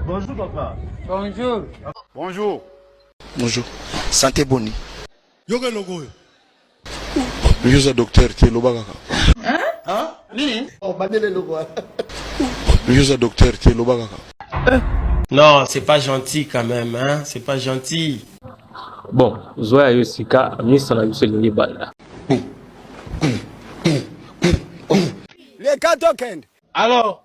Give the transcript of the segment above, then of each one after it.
Bonjour papa. Bonjour. Bonjour. Bonjour. Santé boni. Yoga logo oyo. Yoza docteur te loba kaka. Hein? Hein? Nini? Oh bandele logo. Yoza docteur te loba kaka. Eh. Non, c'est pas gentil quand même hein, c'est pas gentil. Bon, zoya yo sika misa na biso lingi banda. Les 4 token. Alors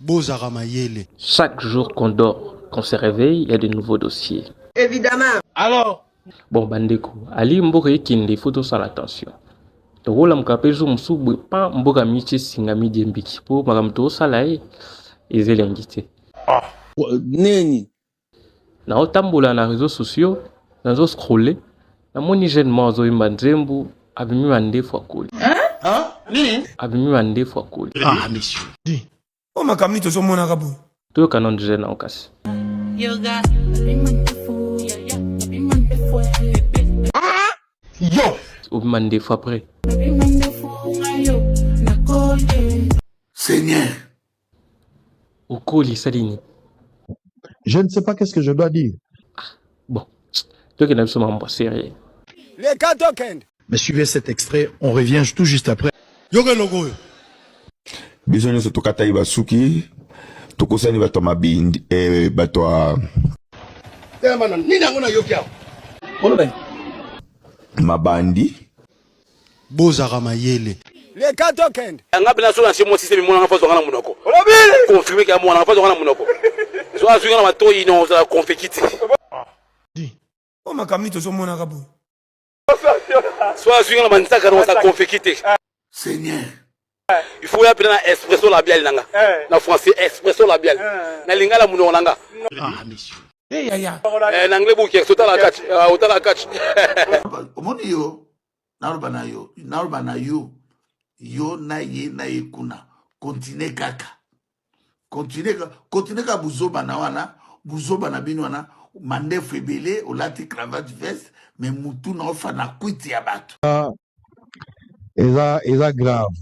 bozaka mayele. Chaque jour qu'on dort, qu'on se réveille, il y a de nouveaux dossiers. Évidemment. Alors Bon bandeko, ali mboka ekende, il faut tosala attention. tokolamuka mpe jour mosusu boye pa mboka miti esingami diembiki mpo makambo tokosala ye eza elengi te ah. neni Nao tambola na reseaux sociaux, nazo scroller, namoni jeune moko azo yemba nzembo, abimi mandefu akoli. Abimi mandefu akoli. Ah monsieur. Oh makambo nini tozo monaka boye? Toyoka nanu jeune nao kasi. Yoga. Yo. Obima ndefu après. Seigneur. okoli esali nini je ne sais pas qu'est ce que je dois dire ah, bon tokenda biso mambo serie leka tokende mais suivez cet extrait on revient tout juste après yoka eloko oyo biso nyonso tokataki basuki tokosani bato ya mabindi eh, bato ya eh, mabandi bozaka mayele leka tokende nga bina so na se mwasi se mimona nga fazwa nga na munoko confirme ke amona nga fazwa nga na munoko so azwi nga na matoyi non ozala confeki te o makambo nini tozomonaka boye so azwi nga na manzaka non ozala confeki te seigneur il faut ya pena na expresso labial nanga eh. na français expresso labial eh. na lingala munoko nanga ah monsieur eh yaya eh na anglais buki otala catch ah, otala catch omoni yo naloba na yo naloba na yo yo na ye na ye kuna continue kaka continue continue ka buzoba na wana buzoba na bino wana mandefu ebele olati cravate veste me mutu na ofa na kwiti ya bato ah, eza eza grave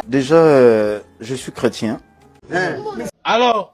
déjà euh, je suis chrétien eh. alors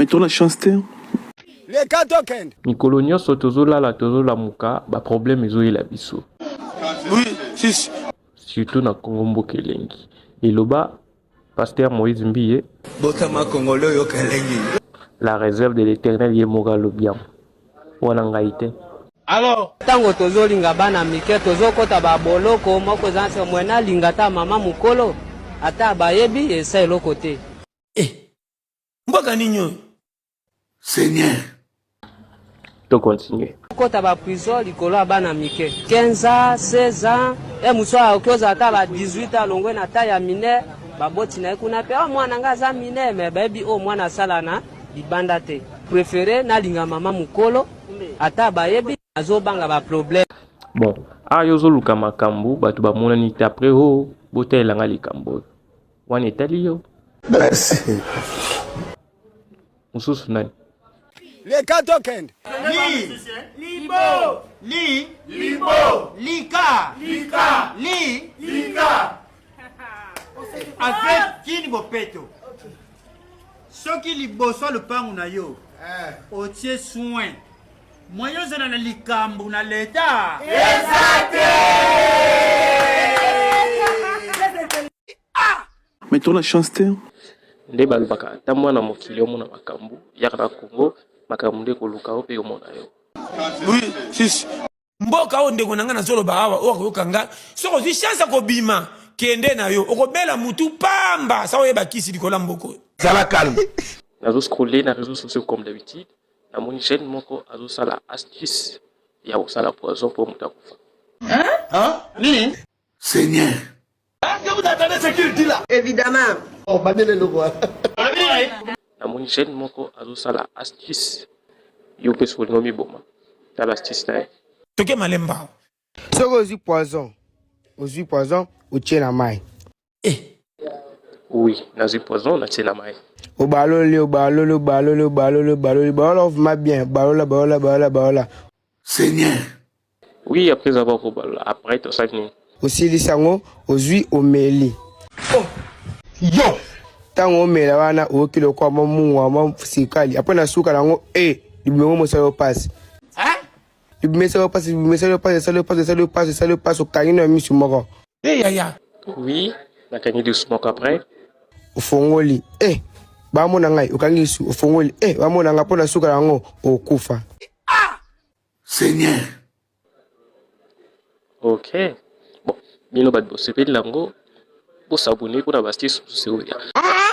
Mais tola chance te. Leka tokende. Mikolo nyonso tozolala tozolamuka ba problème ezoyela biso. Oui, sisi. Surtout na Congo mboka elengi. Eloba Pasteur Moïse Mbiye. Botama Congolais oyoka elengi. La réserve de l'éternel ye moko alobi yango. Wana ngai te. Alors, tango tozolinga bana mike tozokota ba boloko moko eza se mwena linga ta mama mukolo ata bayebi esa eloko te. Eh mboka nini oyo seigneur to continue okota ba prison likolo ya bana mike 15 ans 16 ans e mosu akoki ozala ata ba 18 ans alongwe na ta ya mine baboti na ye kuna mpe oh, mwana ngai aza mine me bayebi oyo oh, mwana asala na libanda te prefere nalinga mama mokolo ata bayebi azobanga baproblème bon awa yo ozoluka makambo bato bamonani te après o oh, botalela ngai likambo oyo wana etali yo merci mosusu nani leka tokende li libo li libo lika lika li lika en fait kini bopeto soki liboso ya lopango na yo eh. otie soin moyen ozala na likambo na leta eza te ah mais tola chance te nde balobaka ata mwana mokili omona makambo yaka na congo makambo nde koluka yo mpe omona yo oui, sisi mboka oyo ndeko na ngai nazoloba awa oyo akoyoka ngai soki ozwi chance ya kobima kende na yo okobela mutu pamba sa oyeba kisi likolo ya mboko oyo zala calme nazo scrolle na réseaux sociaux comme d'habitude namoni jeune moko azosala astuce ya kosala poison mpo moto akufa nini Seigneur. Est-ce que vous entendez ce qu'il dit là? Évidemment. Oh, bandele le voit. namoni jeune moko azosala astuce yo mpe sokolinga omiboma tala astuce na ye toke malemba soki ozwi poison ozwi poison otie na mai eh. oui nazwi poison natie na mai obaloli obaloli obaloli obaloli obaloli baola ovuma bien baola baola baola baola seigneur oui après avoir kobalola après tosaki nini osilisi yango ozwi omeli oh. yo ntango omela wana oyoki lokola mwa mungwa mwa sikali apres na suka na yango e eh, libongo mosala yo mpasi Bimisa yo pasi, bimisa yo pasi, esali yo pasi, esali yo pasi, esali yo pasi, okangi na misu moko. Hey, eh, yaya. Oui, nakangi lisu moko après. Ofongoli. Eh, hey, bamona ngai, okangi lisu, ofongoli. Eh, hey, bamona ngai, mpo na suka yango, okufa. Ah! Seigneur. Ok. Bon, bino bato bosepeli na yango, bosabone mpo na basite susu seoya. Ah!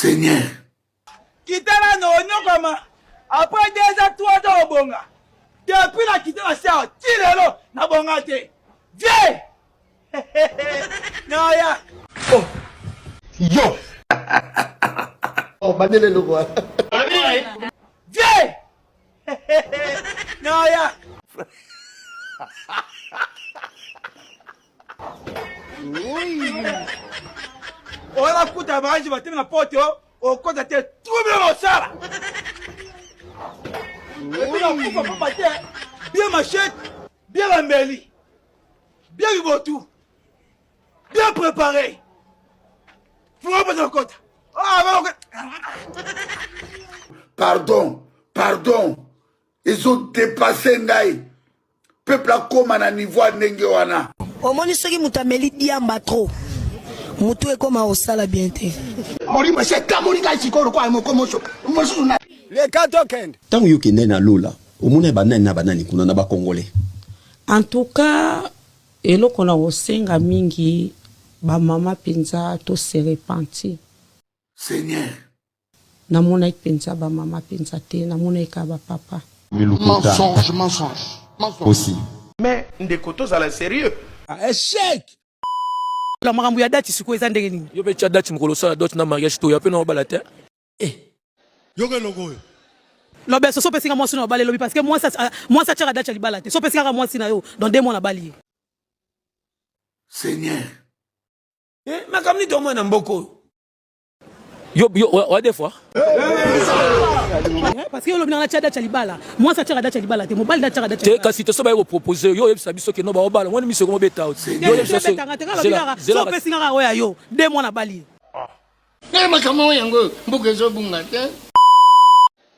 Seigneur. Kitala no onyokama après deux ans trois ans obonga depuis na kita na star ti lelo na bonga te vie naya oh. yo oh, bandele eloko wana vie naya oyo bakuta banji batemi na poto okota te trouble mosala ebinakufa pamba te bie machete bie bambeli bie bibotu bie prépare fuma mpona okota pardon pardon ezodepasse ngai peuple akoma na niveau ya ndenge wana omoni soki moto ameli diamba trop motu ekoma osala bien te molimo esi etamoli kai sikoyo lokola moko moso mosusu na leka tokende ntango yo okendai na lola omona banani na banani kuna na bakongole en tout cas eloko na kosenga mingi bamama mpenza to se repentir seigneur Na monaki penza ba mama penza te na monaki kaka ba papa. Mensonge mensonge mensonge. Mais ndeko tozala serieux. Echec! Alors makambo ya date sikoyo eza ndenge nini? Yo pe tia date mokolo osala dot na mariage toya pe na obala te. Eh yoka eloko oyo. Lobeso so pesi nga mwasi na obale lobi parce que mwasi mwasi atiaka date ya libala te so pesi nga mwasi na yo dans deux mois na bali ye. Seigneur. Eh makambo nini tomona na mboko oyo. Yo, yo, ouais, des fois. Parce que olobinaka tia date ya libala mwasi atiaka date ya libala te mobali date atiaka date te kasi te so baye kopropose yo oyebisa biso ke no baobala ngwani miso ekomobeta yo betanga te kalobinaka so opesi ngaka oyo ya yo de mwana bali nde makambo yango mboka ezobunga te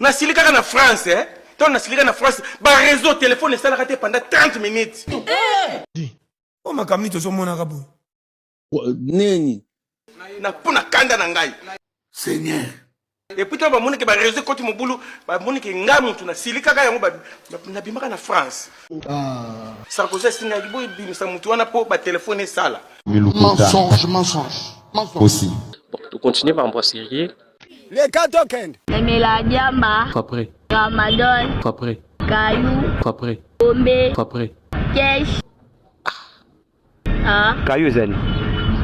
nasilikaka na france eh? ntango nasilika na france bareseau telefone esalaka te pendant 30 minutes o makambo nini tozomonaka boye nini na mpo na kanda na ngai seigneur epuis ntango bamoni ke bareseau ekoti mobulu bamoni ke ngai motu nasilikaka yango nabimaka na france ah. sarkozy asingaki boye bimisa motu wana mpo batelefone esala mensonge mensonge mensonge aussi bon, to continuer ba ambroiserie Leka tokende. Emela diamba. Papre. Ramadan. Papre. Kayu. Papre. Bombe. Papre. Kesh. Ah. Kayu ezali.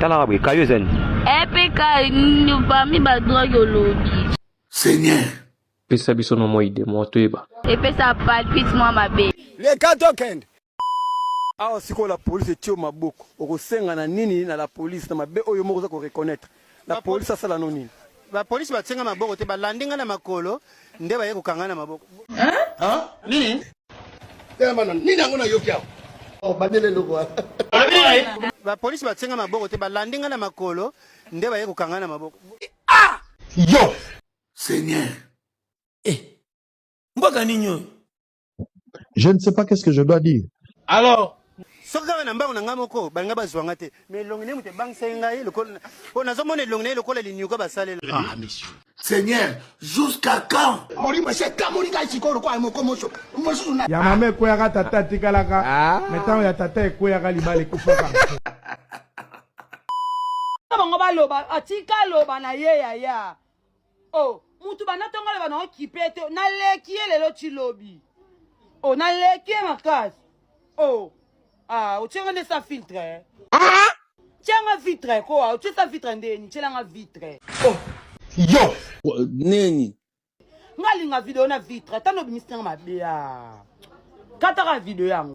Talaka boye kayu ezali. Epe kayu parmi ba drogue olobi. Seigneur. Pesa biso nomoi de moto eba. Epesa palpite mwa mabe. Leka tokende. Awa sikoyo la police etio maboko, okosenga na nini na la police na mabe oyo moko oza ko reconnaître la police asala no nini? Ba police batinga maboko te, balandi nga na makolo nde baye kokanga na maboko. Hein? Nini? Tela mana nini yango na yoki awa? Oh, bandele eloko wana. Ba police batinga maboko te, balandi nga na makolo nde baye kokanga na maboko. Ah! Yo! Seigneur. Eh. Mboka nini oyo? je ne sais pas qu'est-ce que je dois dire alors soki kaka na mbango na ngai moko balinga bazwa ngai te ma elongi naye moto ebangisaki ngai oyo nazomona elongi naye lokola linyuka basalela ah, seigneur jusqu'à quand molimo esi ekamoli ngai sikoyo lokola moko moso mosusu ya mama ekweyaka tata atikalaka ah. me ntango ya tata ekweyaka libala ekufaka bango baloba atika aloba na ye yaya oh mutu banda ntongo aloba na okipe te naleki ye lelo ti lobi oh naleki ye makasi oh ah otie nga nde sa filtre eh? ah? tia nga vitre ko ah, otie sa vitre ndeni tiela nga vitre oh yo neni nga linga video na vitre ata nobimisi nanga mabe a ah. kataka video yango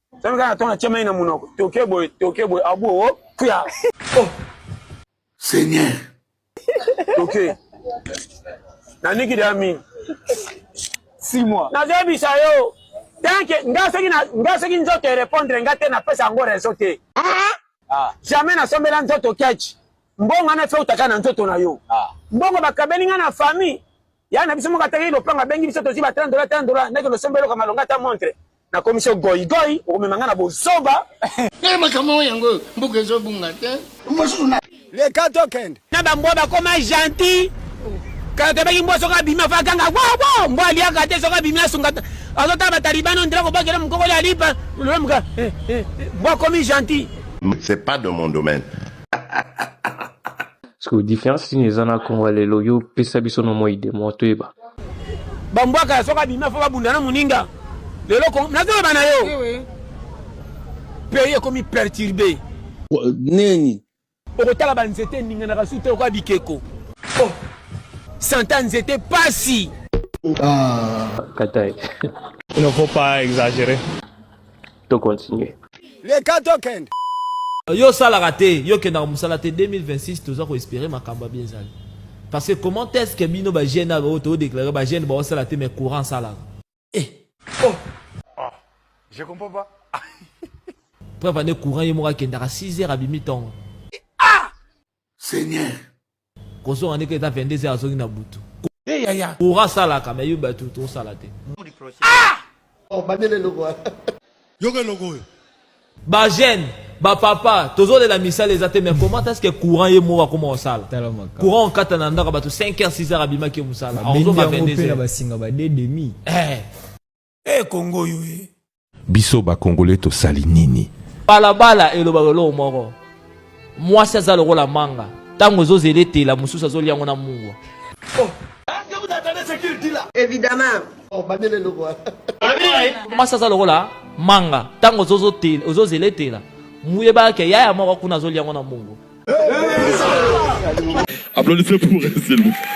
Sasa kaka tona tia mai na munoko. Toke boye, toke boye abu o oh, puya. Oh. Seigneur. Toke. Na niki de ami. 6 mois. Na zebi sa yo. Tanke nga soki na nga soki nzoto e répondre nga te na pesa ngo raison te. Ah. ah. Jamais na sombela nzoto catch. Mbongo na fe utaka na nzoto na yo. Ah. Mbongo bakabeli nga na famille. ya na biso moko ataki lopanga abengi biso tozwi ba 30 dola 30 dola ndeke losomba eloko malonga ata montre nakomisi yo goigoi okomema ngai na bozoba eh, makambo oyo yango mbuka ezobunga te leka tokende na bambwa bakoma gentil kakebaki mbwa soki abimi afa akanga wabo mbwa aliaka te soki abimi asunga azotala batalibani ondela kobakela mokokoli alipa lolomuka eh, eh, mbwa akomi gentil c'est pas de mon domaine Siko difference nini eza na Congo lelo yo pesa biso no moi de moi toyeba. Ba mbwaka ya soka bima fo babunda na muninga. Lelo ko nazo bana yo. Eh Pays ekomi perturbé. Neni? Okotala ba nzete ninganaka su te okoya bikeko. Oh. Santa nzete pasi. Ah. Katai. Il ne faut pas exagérer. To continuer. Leka tokende. Yo osalaka te, yo okendaka mosala te 2026 toza ko espere makambo ya bien ezali. Parce que comment est-ce que bino ba jeunes oyo to déclarer ba jeunes ba osala te mais courant salaka. Eh. Oh. Ah, je comprends pas. Preuve ane courant ye moko akendaka 6 heures abimi tongo. seigneur. Kozonga ndeke eza 22 heures azongi na butu. Hey, yaya. Ora salaka mais yo batu to sala te. Ah! Oh, bandele logo. Yoga logo oyo. Ba jeune, ba papa, tozo de la misale eza te mais comment est-ce que courant ye mo akoma osala? Courant kata na ndaka batu 5 heures 6 heures abimaki musala. Azo ba 22 heures. Ba singa ba 2 demi. Eh. Eh Congo yo eh. Biso ba Congolais tosali nini? Balabala elobaka eloko moko. Mwasi aza lokola manga. Tango ezozela etela mosusu azoli yango na mungwa. Oh. Évidemment. Oh, bandele eloko. Mwasi aza lokola manga. Tango ozozela etela. Muyebaka ke yaya moko kuna azoli yango na mungwa. Applaudissez pour elle, s'il vous plaît.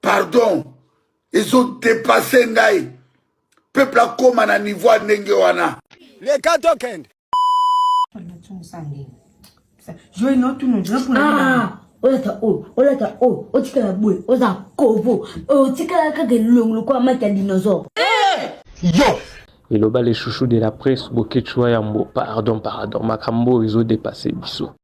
pardon ezo depase ngai peuple akoma na niveau ya ndenge wana leka tokende ah, olata oyo olata oyo otikala boye oza kovo otikala kaka elongo lokola maki ya dinosaure eh! yo eloba le chouchou de la presse boketshuwa yambo pardon pardon makambo oyo ezodepasse biso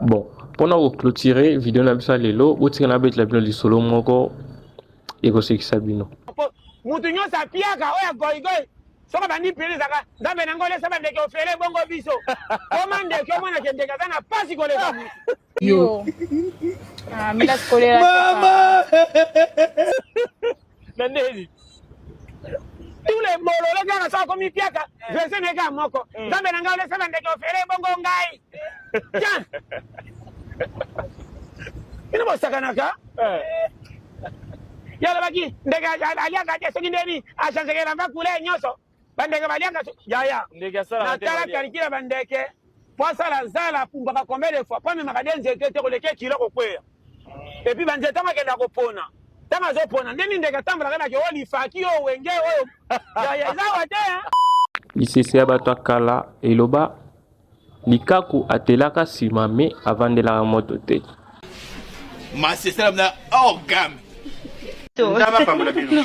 bon mpona koclotire video na biso ya lelo botika na betela bino lisolo moko ekosekisa bino moto nyonso apiaka oyo ya goigoi soki abandi pele ezaka nzambe na ngole esa bandeke ofele bongo biso koma ndeke omona ke ndeke aza na mpasi koleka yo ah, mama na ndeli tous les bololo kaka so akomi piaka eh. verse na kaka moko eh. nzambe na ngai olesala ndeke ofele ebongo ngai tian bino bosakanaka eh. ye alobaki ndeke aliaka te soki ndeni achangeke elamba kule nyonso bandeke baliaka yaya natala kalikila bandeke po asala zala apumbaka combien de fois po amemaka de nzete te koleke kilo kokweya epuis banzete yango akenda kopona ntango azopona nde mindeke atambolaka nake oyo lifaki oyo wenge oyo yaya ezawa te lisese ya bato ya kala eloba likaku atelaka nsima me avandelaka moto te masesela na orgame ndaba pambola bino